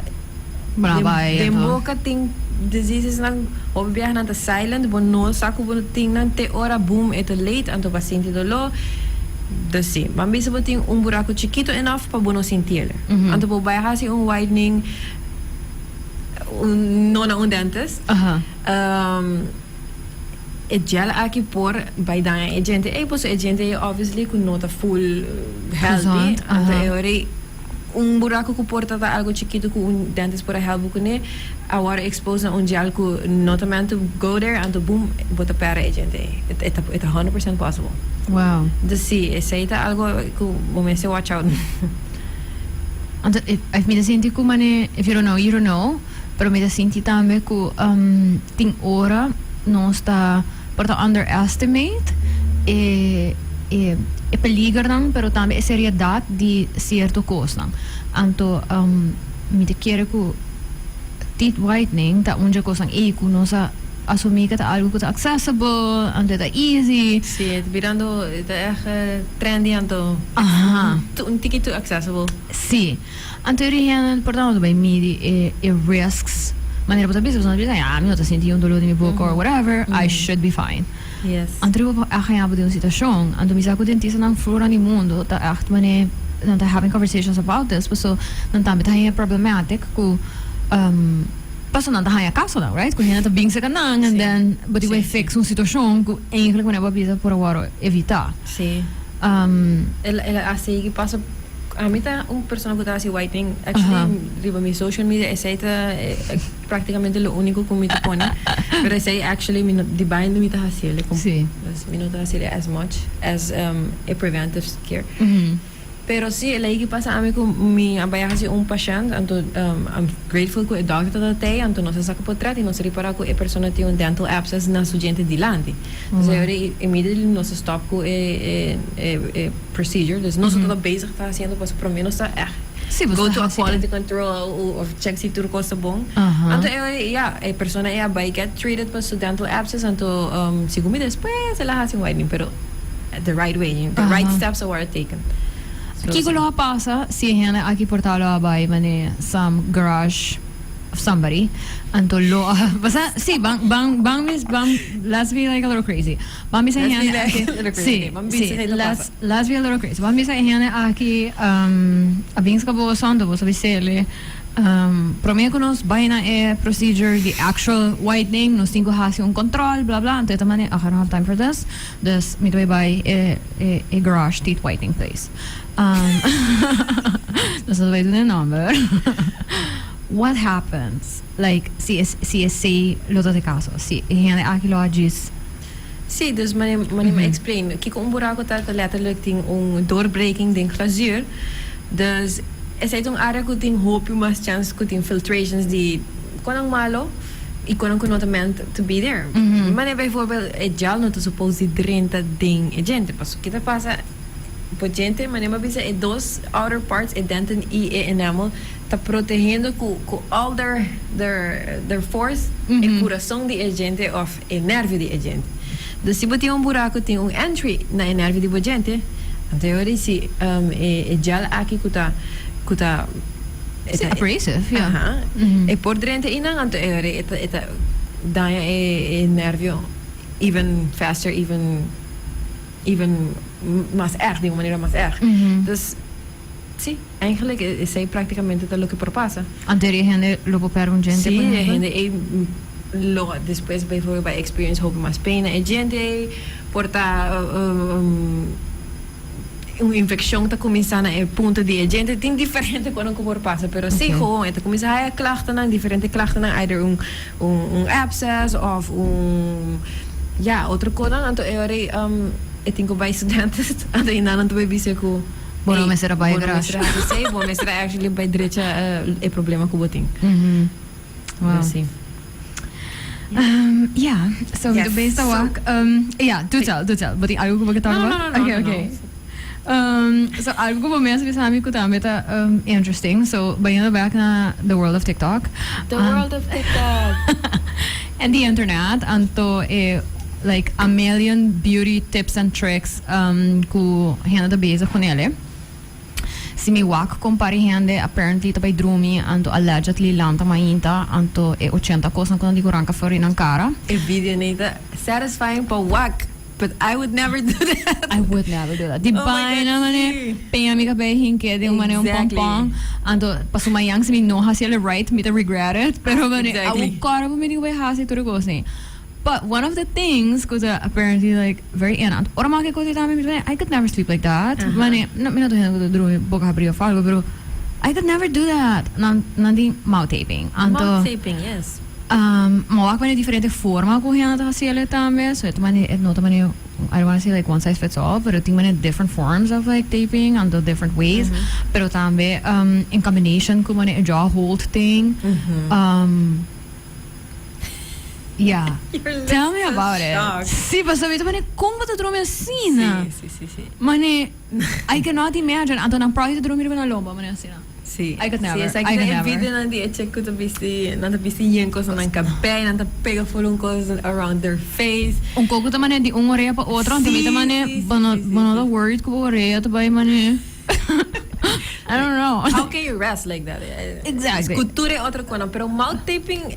Den boka tin diseases nan hopi biaha nan ta silent bo no sa ku bo tin nan te ora boom e ta late anto pa sinti doló dus si bo a mester bo tin un buraku chikito enof pa bo no sinti el anto pa bo bai hasi un whitening no na un dentist e gel aki por bai daña e djente ey paso e djente ey obviously ku no ta full healthy anto e hori. Un buraku ku por ta ta algu chikitu ku un dentist por a hèlp bo kuné, a wòrdu expose na un jel ku no ta meant to go there, anto boom, bo ta pèrdè e djente ei. E ta e ta hundred percent possible. Wow. Entonces sí, esei ta algu ku bo mester watch out na. Anto e e mi ta sinti ku manera if you don't know, you don't know, pero mi ta sinti tambe ku tin ora nos ta. Por ta underestimate e e peligernan pero tambe e seriedat di cierto cosnan. Anto mi ta kere cu teeth whitening ta un dje cosnan ey cu nos a asumi cu ta algo cu ta accessible, anto e ta easy. Si, e ta birando, e ta echt trendy anto un tiki too accessible. Si. Anto e origen por nan bo ta bai midi e e risks manera bo ta bisa bo san ta bisa ya mi no ta sinti un dolor di mi boca or whatever I should be fine Yes. anto di bo por echt haya bo den un situacion anto mi sa cu dentistanan fluran di mundo ta echt manera nan ta having conversations about this paso nan tambe ta haya problematic cu ehm paso nan ta haya casonan right cu hende ta bin cerca nan and Si. then bo tin Si, bai si. fix un situacion cu eigenlijk manera bo a bisa por a wòrdu evita Si. ehm El el a sigui paso. Ami ta un persona ku ta hasi white ink. Actually, riba mi social media esei ta práktikamente lo úniko ku mi ta pone. Pero esei actually mi no, di baño mi ta hasi el. Sí. Pues mi no ta hasi el as much as e preventive care. Pero sí, e lei ki pasa ami ku mi a bai a hasi un pashènt, anto I'm grateful ku e dòkter ta tei, anto nos a saka potret i nos a ripará ku e persona tin un dental abscess na su djente dilanti. Entonces, immediately nos a stòp ku e. procedure dus nos otro ta bezig ta hasiendo pasobra prome nos ta ègt go to a quality control of chèk si tur kos ta bon anto e ya e persona ei a bai gèt treated pa su dental abscess anto segun mi despues el a hasi un whitening pero the right way the right steps a wòrdu taken so Kiko lo a pasa si e hende aki por ta lo a bai manera Sam garage of somebody anto lo a pasa si ban ban ban mis ban let's be like a little crazy. Ban bisa e hende aki. Sí, sí, let's let's be a little crazy. Ban bisa e hende aki um a bin scabo bo son dor bo sabi sele um prome cu nos bay na e procedure di actual whitening nos tin cu haci un control bla bla anto e ta mane ok I don't have time for this dus mi ta bay e e garage teeth whitening place um nos no ta bay duna e nomber what happens. Like, si e si e say lo ta sekaso, si e hende aki lo a djis. Sí, dus mane mane mi a explain kiko un buraku ta, ta letterlijk tin un doorbreking den glazuur. Dus esei ta un área ku tin hopi mas chance ku tin filtrations di kon nan malo i kon nan ku no ta meant to be there. Mane bijvoorbeeld e gel no ta supposed di drenta den e djente pasobra ke ta pasa? Bo djente, mane mi a bisa e dos outer parts, e denten i e enamel, Ta protehendo cu cu al der der der force e curason di e djente of e nervio di e djente. Dus si bo tin un buraco tin un entry na e nervio di bo djente, anto yo dici ehm e e gel aki cu ta cu ta e ta abrasive ya aha e por drenta y nan anto yo e ta e ta daña e e nervio even faster even even mas erg di un manera mas erg. Dus. Sí, eigenlijk esei práktikamente ta loke por pasa. Antes di e hende lo por pèrdè un djente, por ehèmpel? Sí, e hende ei lo despues beivoorbeeld bai experience hopi mas pain na e djente ei, por ta un infeccion ta cuminsá na e punto di e djente, tin diferente cosnan cu por pasa, pero sí, gewoon e ta cuminsá haja klachtenan, diferente klachtenan, either un un abscess of un ya otro cosnan, anto e ora ei e tin cu bai studentes, anto e nannan ta bai bis'e cu. Bo no mester a bai garage. Bo mester a actually bai drecha e problema ku bo tin. Wow. Si. Um, ja, so yes. de best so, wak. Um, ja, do tell, do tell. Bo tin algo ku bo ke talk about? No, no, no, okay, no, okay. No. Um, so algo ku bo mes bisa mi ku tambe ta um, interesting. So, bayendo back na the world of TikTok. The um, world of TikTok. En di internet anto e like a million beauty tips and tricks cu hende ta bezig cu nele. Si mi wak con pari hende apparently ta bay drumi anto allegedly lanta mainta anto e ochenta cosnan cu nan di cu ranca flori nan cara. E video ne ta satisfying pa wak. But I would never do that. I would never do that. Di oh baina mane peña mi kabei hinke di un mane un pompon. Anto paso mañana si mi no hasi el right, mi te regret it. Pero mane exactly. awu korbo mi di we hasi tur kos ni. But one of the things ku ta apparently like very enant. Ora ma ke kosi tami mi mane I could never sleep like that. Uh -huh. Mane no mi no to hende ku ta drumi boka habri of algo, pero I could never do that. Nan nan di mouth taping. Anto mouth taping, yes. Mawak manera diferente forma ku hende ta hasiel e tambe. So et mane et no ta mane I don't wanna say like one size fits all pero tin manera different forms of like taping and the different ways pero tambe in combination ku manera e jaw hold ting ya tell me about it si pasobra mi ta mane kon bo ta drumi asina mane. I cannot imagine, anto nan proy ta drumi riba nan lomba manera asina? Sí, I could never, esaki I ta could e never. videonan di e chek ku ta bisti, nan ta bisti yen kos na nan kabè, nan ta pega ful un kos around their face. Un koko ta mane di un orea pa otro, anto mi ta Sí, mane, sí, sí, bo no, sí, sí, bo no ta sí. worried ku bo orea ta bai mane. I don't know. How can you rest like that? Exactly. Ku tur e otro konan, pero mouth taping,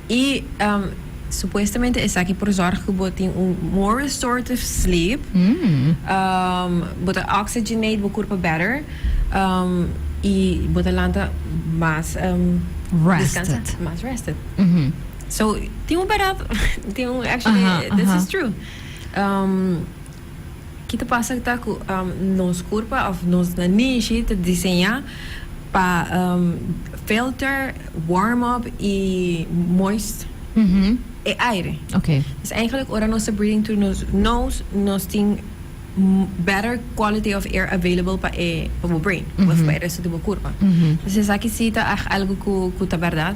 Y supuestamente esaki por zorg cu bo tin un more restorative sleep, bo ta oxygenate bo curpa better y bo ta lanta mas descansa, mas rested. So tin un berat tin un actually this is true. Ki ta pasa ta ku nos kurpa òf nos nanishi ta diseñá pa filter, warm up i moist e aire. Pues eigenlijk ora nos ta breathing through nos nose nos tin better quality of air available pa e pa bo brain òf pa e resto di bo kurpa. Pues esaki si ta algu ku ta bèrdat.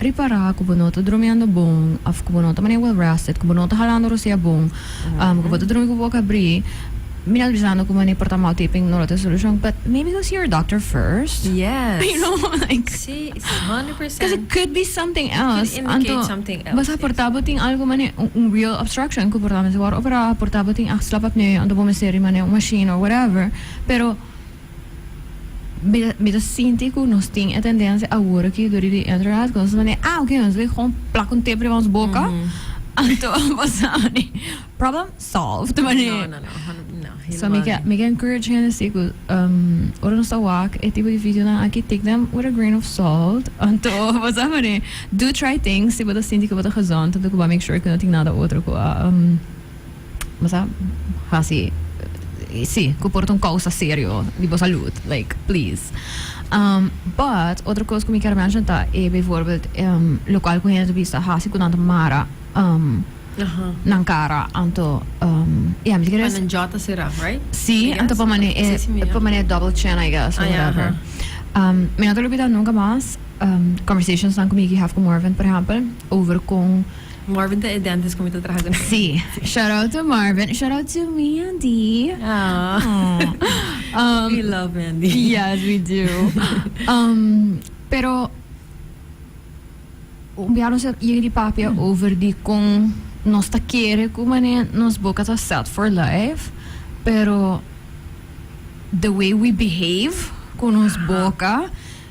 Prepara ku bo no ta drumiendo bon òf ku bo no ta mane well rested, ku bo no ta halando rosea bon, ku bo ta drumi ku bo boka abrí, mina al bisa no ku mane porta mal taping no lo ta e solushon, but maybe go see your doctor first. Yes. You know, like. Sí, hundred percent. Because it could be something else. It could indicate something else. Anto basa por ta bo tin algo mane un real obstruction ku por ta mester wòrdu operá, por ta bo tin axla pa pné, anto bo mester ri mane un machine or whatever, pero. Mi ta, mi ta sinti ku nos tin e tendensia awor aki dor di internet, ku nos ta mandi, ah, oké, nos bai gewoon plak un tep riba nos boka, anto a pasa mani, problem solved, ta mani. No, no, no, hon- no, So mi hilemaal ke, niet. mi ke encourage hende si ku, ehm, ora nos ta wak e tipo di videonan aki, take them with a grain of salt, anto a pasa mani. Do try things si bo ta sinti ku bo ta gezond, anto ku bo a make sure ku no tin nada otro ku a, ehm, bo sa hasi si cu por ta un causa serio di bo salud like please um but otro cos cu mi kier mention ta e bijvoorbeeld um local cu hende ta bisa ta hasi cu nan ta mara um Aha. nan cara anto um ya mi ta kere Pa nan jaw ta sera, right? Sí, I anto guess. pa mané, eh, Sí, sí, mira. pa mané double chin, I guess, or Ah, ja, whatever. aha. Um, me no te lo olvida nunca más, um, conversations dan cu Mickey Hef cu Morven, por ejemplo, over con Marvin ta e dentist cu mi ta traha cu nan. Sí. Shout out to Marvin. Shout out to Mandy. Aww. Aww. Um, we love Mandy. Yes, we do. um, pero ya nos llega di papia mm. over di con nos ta kere cu mané nos boca ta set for life, pero the way we behave con nos boca.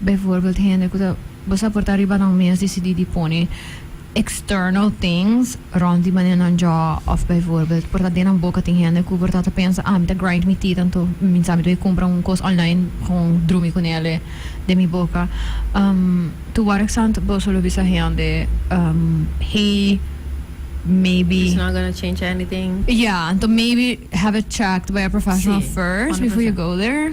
Bijvoorbeeld hende ku ta bo sa por ta riba nan mes disidí di pone external things rond di manera nan jò òf bijvoorbeeld por ta den nan boka tin hende ku por ta ta pensa ah mi ta grind mi teeth anto mi sa mi ta kumpra un kos online kon drumi ku nele den mi boka to work sant boso lo bisa hende hey maybe It's not gonna change anything. ya anto maybe have it checked by a professional Sí, first hondre before you persent. go there.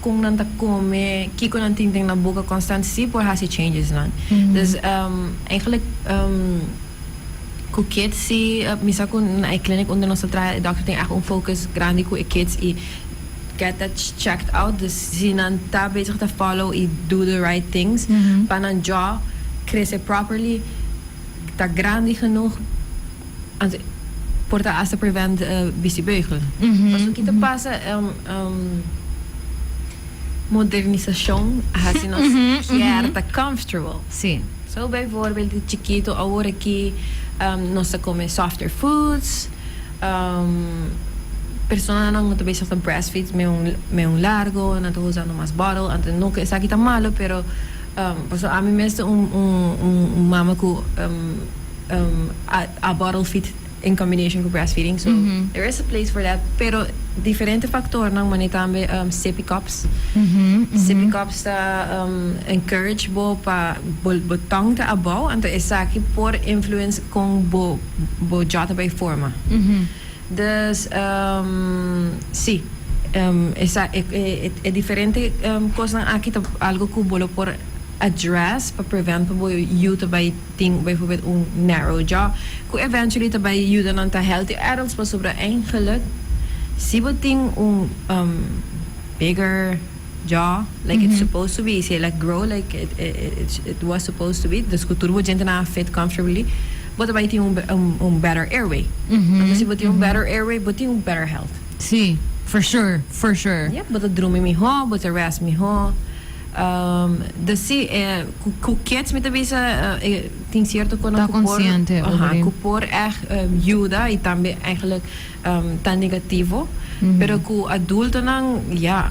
con nan ta come, kico nan tin den nan boca constante si por haci changes nan. Dus eigenlijk cu kids si mi sa cu na e clinic unda nos ta traha e dokter tin echt un focus grandi cu e kids y get that checked out dus si nan ta bezig ta follow y do the right things pa nan jaw crece properly ta grandi genoeg. Anto por ta hasta prevent bicibeugel. Paso ki ta pasa modernisacion a haci nos kier ta comfortable. Si. So bijvoorbeeld di chikito awor ki nos ta come softer foods, personanan cu ta bezig ta breastfeed me un largo nan ta usa nomas bottle anto no cu esaki ta malo pero paso ami mes ta un mama cu. um, a, a bottle feed in combination cu breastfeeding. So there is a place for that. Pero diferente factornan, mane tambe um, sippy cups. Sippy cups ta um, encourage bo pa bo, bo tong ta abou, anto esaki por influence con bo, bo jaw ta bay forma. Dus, um, si, um, esa, e, e, e, e diferente um, cosnan aki ta algo cu bo lo por address pa prevent pa bo yu ta bay Tin bijvoorbeeld un narrow jaw cu eventually ta bay yuda nan ta healthy adults pasobra eigenlijk si bo tin un bigger jaw like it's supposed to be si e laat grow like it was supposed to be dus cu tur bo djentenan a fit comfortably bo ta bay tin un better airway anto si bo tin un better airway bo tin un better health. Si for sure for sure. Yep bo ta drumi miho bo ta rest miho. Ta si e ku kids mi ta bisa e tin sierto kos nan ku por echt yuda i tambe eigenlijk ta negativo pero ku adultonan ya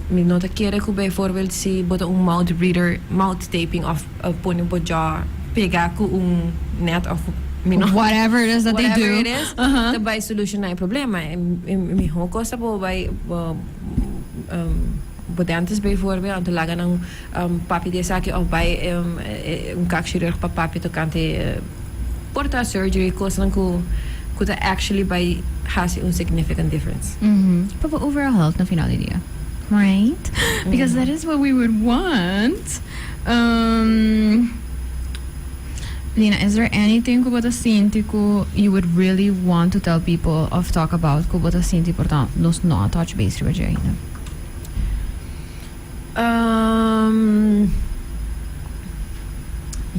mi no ta kere ku bijvoorbeeld si bo ta un mouth reader mouth taping of pone bo jò pega ku un net of mi no whatever it is that they do ta bai solushona e problema e mihó kos ta bo bai bo. Bo te antes bay voorbeeld anto laga nan papia di esaki of bay un kakchirurg pa papia tokante por ta surgery kosanan ku ta actually bay hasi un significant difference. Pa bo overall health na final di dia. Right? Because that is what we would want. Lina, is there anything ku bo ta sinti ku you would really want to tell people of talk about ku bo ta sinti por ta nos no a touch base riba dje ainda? Um,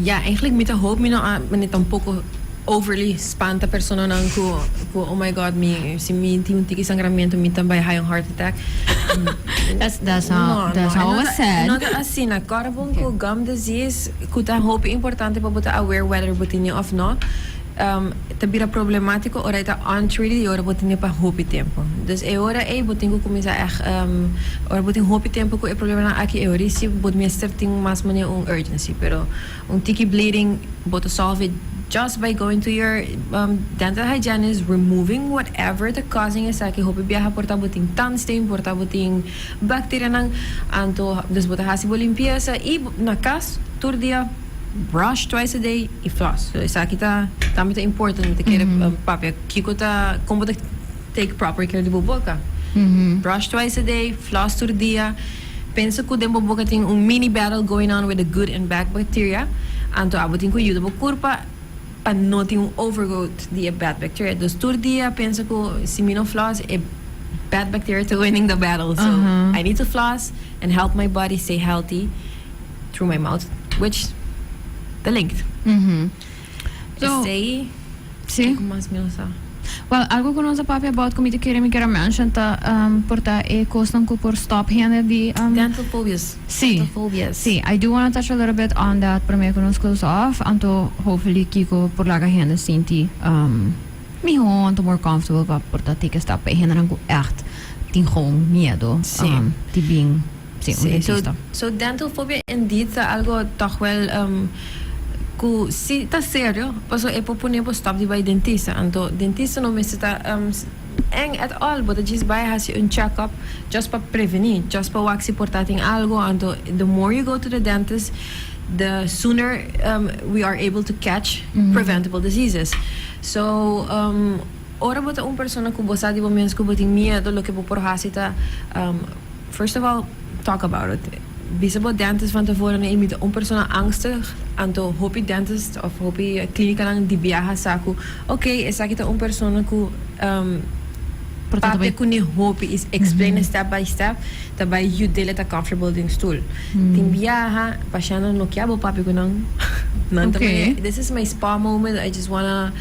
ja, eigenlijk mi ta hoop mi no a, mi tampoco overly spanta personanan cu, cu oh my god, mi, si mi tin un tiki sangramento mi ta bai hai un heart attack. That's, that's how, No, no, that's e how no I ta- said. No ta asina. Kòrpon ku gum disease, ku ta hopi importante pa bo ta aware whether bo tin e of no. ta bira problematiko ora e ta untreated y ora bo tin e pa hopi tempo. Dus e ora ey bo tin cu cuminsa echt ora bo tin hopi tempo cu e problemnan aki e ora ey si bo mester tin mas manera un urgency pero un tiki bleeding bo ta solve just by going to your dental hygienist removing whatever ta causing esaki hopi biaha por ta bo tin tang stain por ta bo tin bacterianan anto dus bo ta haci bo limpieza y na cas tur dia. Brush twice a day y floss. So esaki ta tambe ta important bo ta kere papia kiko ta con bo ta take proper care di bo boca. Brush twice a day, floss tur dia. Pensa cu den bo boca tin un mini battle going on with the good and bad bacteria. Anto abo tin cu yuda bo curpa pa no tin un overgrowth di e bad bacteria. Dus tur dia pensa cu si mi no floss e bad bacteria ta winning the battle. So I need to floss and help my body stay healthy. through my mouth, which the length. So, Esei, sí. e ku mas mi a sa. Well, algo ku nos a papia about ku mi ta kere mi kere mention ta um, por ta e kosnan ku por stop hende di um, Dental phobias. Sí. Dental phobias. Sí, I do wanna touch a little bit on that promé ku nos close off, anto hopefully Kiko por laga hende sinti um, mihó, anto more comfortable pa por ta take a step pa e hendenan ku ègt tin gewoon miedo Sí. um, di bin. Sí, un dentisto. Sí, so, so dental phobia indeed ta algo tòg wèl um, ku si ta serio, paso e por pone bo stòp di bai dentista. Anto dentista no mester ta um, èng at all, bo ta djis bai hasi un chèkòp just pa prevení, just pa wak si por ta tin algo. Anto the more you go to the dentist, the sooner um, we are able to catch preventable diseases. So, um, ora bo ta un persona ku bo sa di bo mes ku bo tin miedu, loke bo por hasi ta um, First of all, talk about it. Bisa bo dentist van tafora na imita un persona angstig, anto hopi dentist of hopi clinicanan di biaha sa cu ok, esaki ta un persona cu papia cu ne hopi y explaina step by step ta bay yud'el e ta comfortable den stoel. Tin biaha pashennan no kia bo papia cu nan, nan ta mari this is my spa moment, I just wanna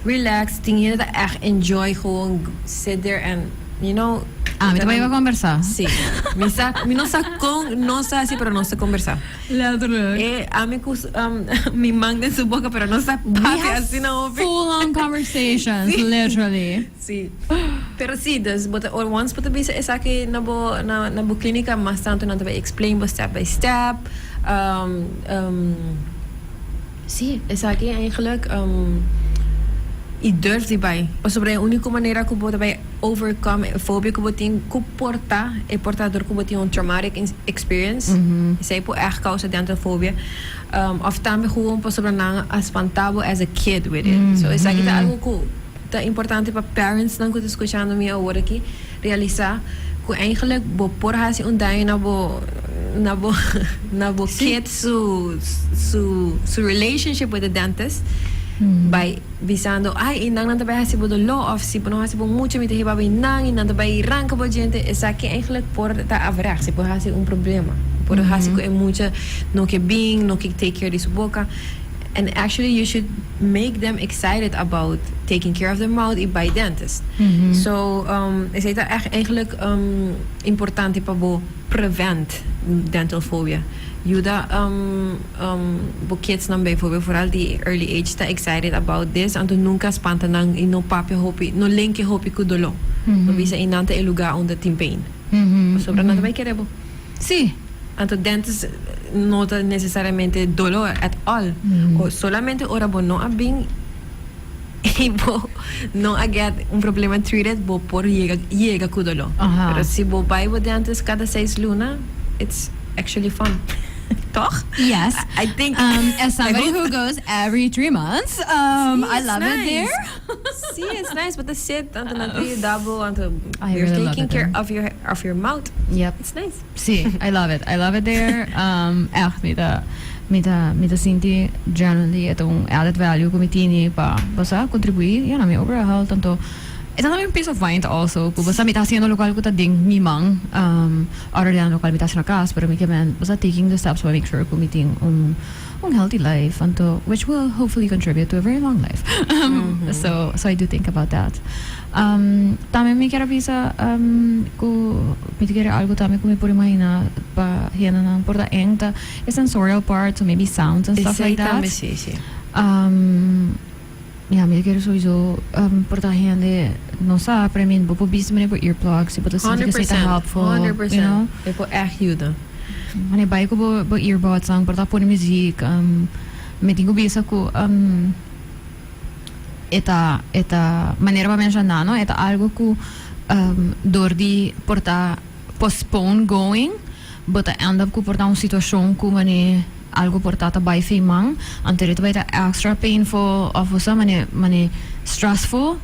relax, tin hende ta echt enjoy gewoon sit there and. Mi no. Ah, mi ta bay a conversa. Sí. Mi sa, mi no sa con nos ta haci, pero nos ta conversa. Letterlijk. E ami cu su- um, mi man den su boca, pero nos ta We papi have así na hopi. full on conversations, Sí. literally. Sí. Pero sí, dus, bo ta, or once bo ta bisa esaki na bo, na, na bo clínica, mas tanto nan ta bay explain bo step by step. Um, um, Sí, esaki eigenlijk e durf di bai. Pasobra e único manera cu bo ta bay overcome e fobia cu bo tin cu por ta e por ta dor cu bo tin un traumatic experience. Esey por echt causa den ta fobia. Of tambe gewoon pasobra nan a spanta bo as a kid with it. So esaki ta algo cu Ta importante pa parentsnan ku ta skuchando mi awor aki realisá ku eindelijk bo por hasi un daño na bo na bo na bo kid su su su relationship with the dentist bai bisando ai i nannan ta bai hasi bo doló òf si bo no hasi bo mucha mi ta hiba bai nan i nan ta bai ranka bo djente esaki eindelijk por ta averechts i por hasi un problema i por hasi ku e mucha no ke bin no ke take care di su boka and actually you should Make them excited about taking care of their mouth y bay dentist. So esey ta echt eigenlijk importante pa bo prevent dental phobia. Yuda bo kidsnan bijvoorbeeld, vooral di early age, ta excited about this, anto nunca spanta nan y no papia hopi, no lenke hopi cu dolor. No bisa y nan ta e lugar unda tin pain. Pasobra nan ta bay kere bo. Sí, anto dentes no ta necesariamente dolor at all. Solamente ora bo no a bin y bo no a get un problema treated bo por yega yega cu dolor. Aha. Pero si bo bay bo dentes cada seis luna, it's actually fun. Toch? Yes. I think. Um, Esabarihugo's every three months. Um, I love it there. Sí, es nice, bo ta sit anto nan ta yuda bo, anto I really you're love taking it care there. of your of your mouth. Yep. It's nice. Sí, I love it. I love it there. Um, ègt, mi ta, mi ta, mi ta sinti genuinely e ta un added value ku mi tini pa, bo sa, kontribuí, ya, na mi overall health. Anto, e ta tambe un peace of mind also, ku bo sa mi ta hasiendo lokal ku ta den mi man, um, other dan lokal mi ta hasi na kas, pero mi kier men, bo sa, taking the steps pa make sure ku mi tin un. un healthy life anto which will hopefully contribute to a very long life um, so so I do think about that um, tambe mi kier a bisa um, ku mi ta kere algo tambe ku mi por imagina pa hendenan por ta eng ta e sensorial part so maybe sounds and stuff Esei like that tambe sí, sí. um, Ya, mi ta kere sowiso porta hende no sa, pero I mean bo por bisa meneer ku earplugs i bo ta sinti ku esei ta helpful, you know. E por ègt yuda. Wanneer bai ku bo bo earbudsnan, por ta pone muziek. Mi tin ku bisa ku e ta e ta manera bo a menshoná no e ta algu ku dor di por ta postpone going. Bo ta end up cu por ta un situacion cu mane algo por ta ta bay fin man, anto e ta bay ta extra painful of bo sa mane mane stressful.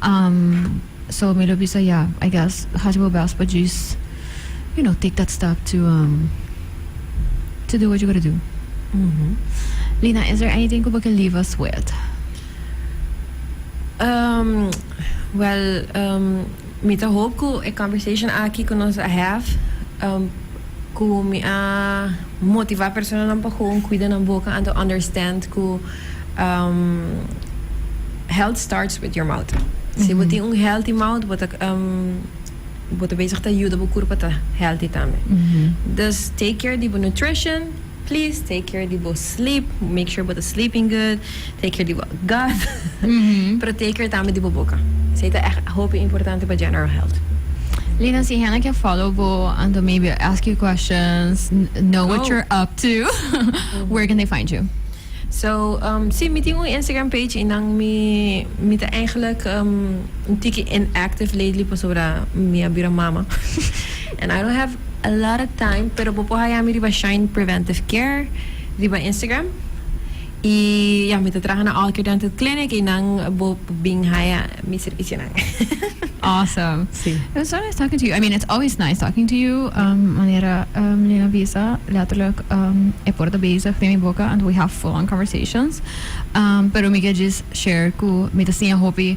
Um, so mi lo bisa ya, I guess haci bo best pa djis, you know, take that step to um to do what you gotta do. Lina, is there anything cu bo can leave us with? Um, well, um, Mi ta hoop cu e conversation aki cu nos a have cu mi a motiva personanan pa gewoon cuida nan boca and to understand cu health starts with your mouth. Si bo tin un healthy mouth bo ta bo ta bezig ta yuda bo curpa ta healthy tambe. Dus take care di bo nutrition. Please take care di bo sleep, make sure bo ta sleeping good, take care di bo gut, pero take care tambe di bo boca. Esey ta echt hopi importante pa general health. Lina, si hende ke follow bo and dan maybe ask you questions, know what you're up to, where can they find you? So, si, mi tin un Instagram page y nan mi mi ta eigenlijk un tiki inactive lately pasobra mi a bira mama and I don't have A lot of time pero bo por haya mi riba Shine Preventive Care riba Instagram y ya mi ta traha na All Care Dental Clinic y nan bo por bin haya mi servicionan. Awesome. Sí. It was so nice talking to you. I mean, it's always nice talking to you. Um, manera um, Lina bisa, letterlijk, um, e por ta bezig den mi boka, and we have full-on conversations. Um, pero mi ke just share ku mi ta siña hopi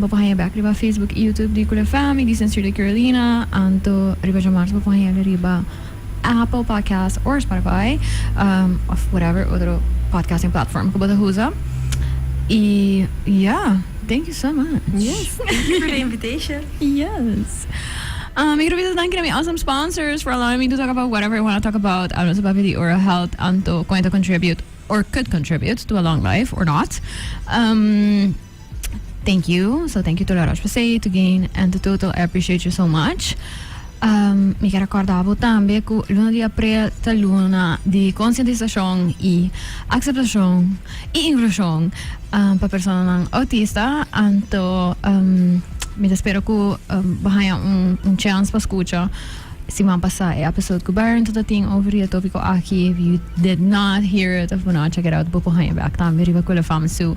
Bo por haña bek riba Facebook i YouTube di Kule FM i di Sensuur di Carolina. Anto riba djamars bo por hañal riba Apple Podcast or Spotify of whatever otro podcasting platform ku bo ta usa. I ya, thank you so much. Yes, thank you for the invitation. Yes. Mi quiero bisa danki na mi awesome sponsors for allowing me to talk about whatever I wanna talk about anto su papia di oral health anto kon e ta contribute or could contribute to a long life or not. Thank you. So thank you to Laroche Posay, to Gain and to Total. I appreciate you so much. Um, mi quiero recordar vos también que luna de abril ta luna de concientización y aceptación y inclusión um, para personas autista. Anto, um, mi te espero que um, we haya un, un chance para escuchar semana pasada e episode que Baron tot tin over die topico aquí. If you did not hear it of Bonacha, get out, bopo haya back también riba Kule Fama Zoo.